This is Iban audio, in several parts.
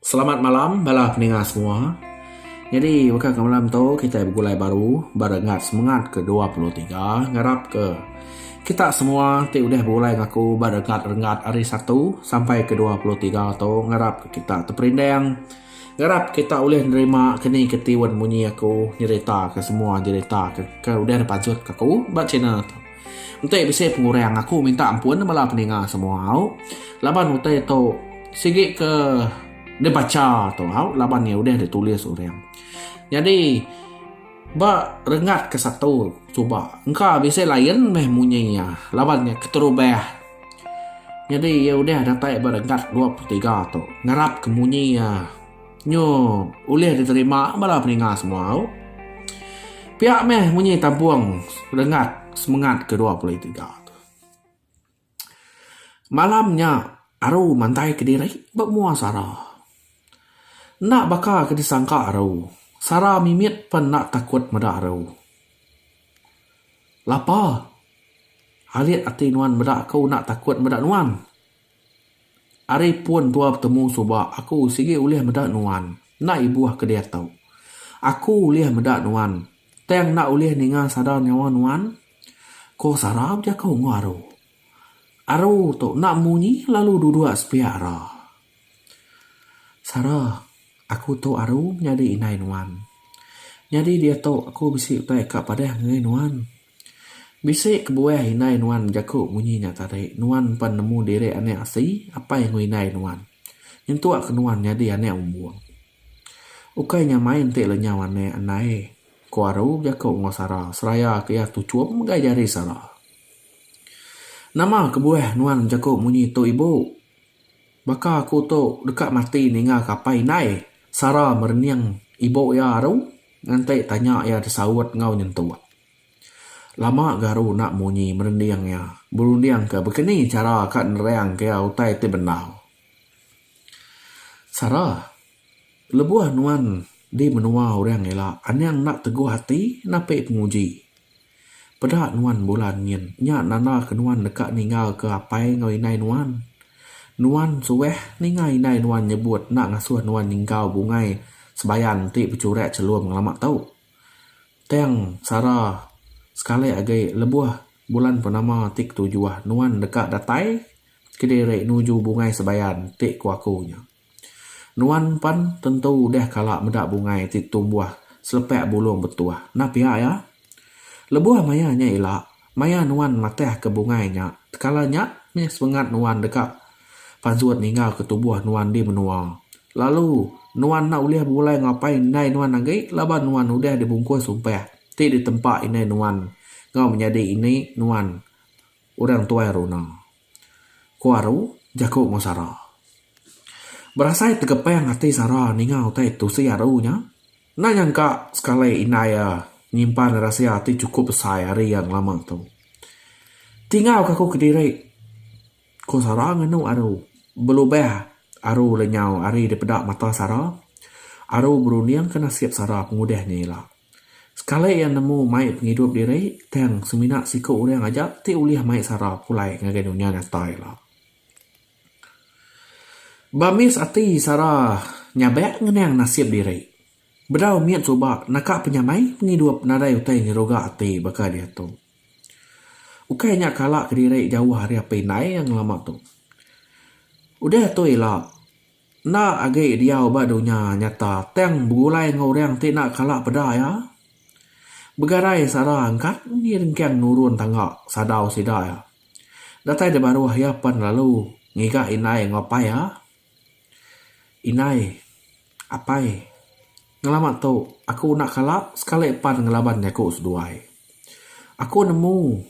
Selamat malam bala peninga semua. Nyadi baka ke malam tu kita begulai baru ba renggat semengat ke dua puluh tiga ngarap ke kita semua ti udah begulai enggau aku ba renggat-renggat hari satu sampai ke dua puluh tiga tu ngarap ke kita teperindang ngarap kita ulih nerima ke ni ke tiun munyi aku nyerita ke semua nyerita ke udah dipanjut ke aku ba channel tu. Enti bisi pengurang aku minta ampun bala peninga semua au laban utai tu sigi ke dibacha tu au laban iya udah ditulis orang. Nyadi ba rengat ke satu suba engka bisi lain meh munyi iya laban iya keterubah. Nyadi iya udah datai ba rengat dua puluh tiga tu ngarap ke munyi iya. Nyu ulih diterima bala peninga semua u. Pia meh munyi tampung rengat semengat ke dua puluh tiga tu. Malam nya aru mantai kediri ba mua sara. Enda baka ke disangka aru, sara mimit pen enda takut meda aru. Lapa alit ati nuan meda aku enda takut meda nuan. Ari pun tua betemu suba aku sigi ulih meda nuan. Enda ibuh ke diatu. Aku ulih meda nuan tang enda ulih ninga sadar nyawa nuan, ko Sara bejaku enggau Aru. Aru tu enda munyi lalu duduk sepiak ra. Sara, aku tu Aru nyadi indai nuan. Nyadi diatu aku bisi utai ka padah ngagai nuan. Bisi kebuah indai nuan jaku munyi nya tadi. Nuan pan nemu diri anak asi apai enggau indai nuan. Nyentuk ke nuan nyadi anak umbung. Ukai nya main ti lenyau anak andai. Ku aru bejaku enggau sara seraya ke iya tuchum ngagai jari sara. Nama kebuah nuan bejaku munyi tu ibu? Baka aku tu deka mati ninga ke apai indai Sara merening ibu iya aru nganti tanya iya disaut enggau nyentuk. Lama ga aru enda munyi merening iya berunding ke baka ni chara ka nerang ke iya utai ti bendar. Sara, lebuh nuan di menua orang ila, anang enda teguh ati napi penguji. Peda nuan Bulan nyin. Nya nanda ke nuan deka ninggalka apai enggau indai nuan. Nuan suah ninga indai nuan nyebut enda ngasuh nuan nyenggau bungai sebayan enti bechurak chelum ngelama tu. Tang sara sekali agi lebuh Bulan Purnama ti ketujuh nuan deka datai kediri nuju bungai sebayan ti ku aku nya. Nuan pen tentu udah kala meda bungai ti tumbuh selepak bulung betuh. Nah pia iya? Lebuh maya nya ila, maya nuan matahka bungai nya, tekala nya meh semengat nuan deka panjut ninggalka tubuh nuan di menua. Lalu, nuan enda ulih begulai enggau apai indai nuan agi laban nuan udah dibungkus sumpah ti ditempa indai nuan enggau menyadi ini nuan. Orang tuai runa. Ku Aru, jaku enggau Sara. Berasai tegepang ati Sara ninga utai tusi Aru nya. Enda nyangka sekali indai iya nyimpan rahsia ti chukup besai ari iya ngelama tu. Tinggauka aku kediri, ku Sara ngenu Aru. Belubah Aru lenyau ari dipeda mata Sara, Aru berundingka nasib Sara pengudah nya ila. Sekali iya nemu mai pengidup diri, tang semina siku orang aja ti ulih mai sara pulai ngagai dunya nyata ila. Bamis ati sara nyabak ngenang nasib diri. Bedau mit suba naka penyamai pengidup nadai utai nyeruga ati baka diatu. Ukai nya kala kediri jauh ari api indai iya ngelama tu. Udah tu ila, Enda agi diau ba dunya nyata tang begulai enggau orang ti enda kala peda iya. Begadai sara engkat undi rengkang nurun tangga sadau sida iya. Datai di baruh iya pan lalu ngiga indai enggau apai iya. Indai, Apai, ngelama tu aku enda kala sekali pan ngelaban jaku seduai. Aku nemu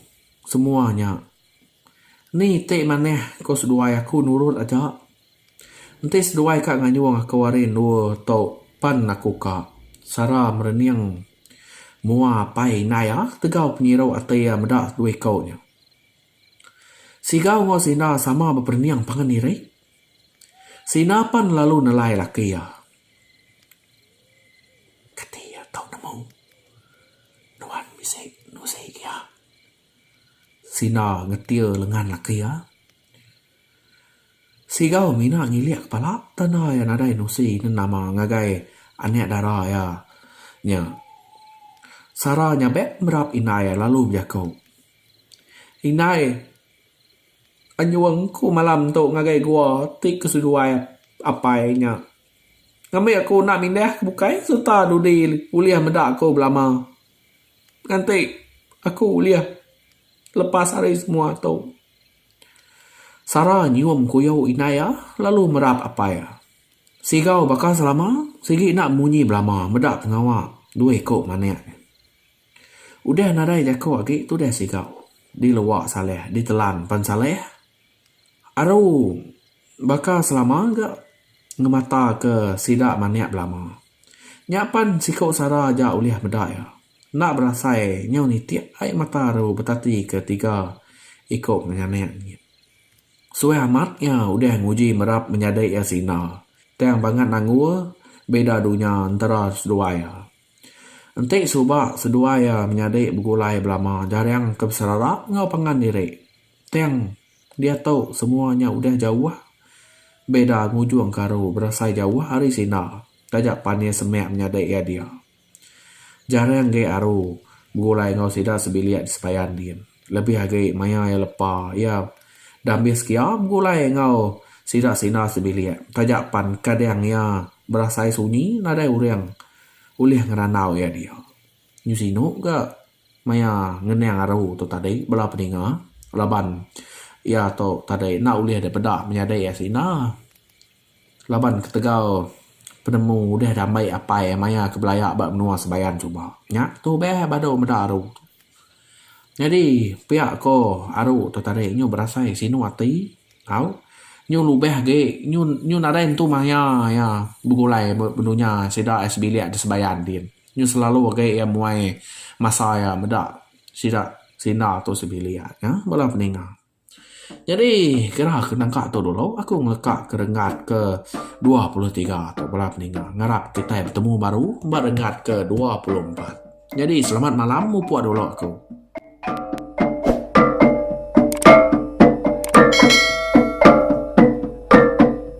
semua nya. Ni ti manah ku seduai aku nurut aja Enti seduai ka ngayung aku ari endur tu pan aku ka sara merening mua apai indai iya tegau penyiru ati iya meda dua iku nya. Siga enggau sina sama beperening pangan diri. Sina pan lalu nelai laki iya. Kati iya tau nemu nuan bisi nusi ke iya? Sina ngetir lengan laki iya. Sigal mina ngilik kepala tanda iya nadai nusi nenama ngagai anak dara iya nya. Sara nyabek merap indai iya lalu bejaku, Indai, anyung ku malam tu ngagai gua ti ke seduai apai nya. Ngambi aku enda mindah ke bukai sereta dudi ulih meda aku belama. Nganti aku ulih lepas ari semua tu. Sara nyium kuyo indai iya lalu merap apai iya. Sigau baka selama, sigi enda munyi belama meda pengawa dua iko manik. Udah nadai jako agi tudah sigau di lewa Saleh ditelan pan Saleh. Aru baka selama ga ngemata ke sida manik belama. Nya pan siko sara aja ulih meda iya. Enda berasai nyau nitik ai mata ru betati ke tiga iko penganik nyin. Suai amat iya udah nguji merap menyadi iya sina, tang bangat nanggur beda dunya entera seduai iya. Enti suba seduai iya menyadi begulai belama jarang ke beserarap enggau pangan diri, tang diatu semua nya udah jauh beda ngujungka ru berasai jauh ari sina taja pan iya semak menyadi iya dia. Jarang agi aru begulai enggau sida sebilik di sepayan nyin. Lebih agi maya iya lepa, iya dah ambis kia begulai enggau sida sina sebilik. Taja pan kadang iya berasai sunyi nadai urang ulih ngerandau iya dia. Nyu sinu ga maya ngenang aru tu tadi bala peninga laban iya tu tadi enda ulih dipeda menyadi iya sina. Laban ketegal penemu udah diambai apai maya ke belaya ba menua Sebayan suba. Nya tu beh badu meda aru tu. Nyadi pia ko aru tu tadi nyu berasai sinu ati tau nyu lubeh agi nyu nyu nadai entu maya iya begulai ba dunya sida ai sebilik di Sebayan din. Nyu selalu agi iya muai masa iya meda sida sinda tu sebilik nya bala peninga. Nyadi gerah ke nangka tu dulu aku ngeka ke renggat ke dua puluh tiga tu bala ninga ngarap kitai betemu baru ba renggat ke dua puluh empat. Nyadi selamat malam mupok dulu aku.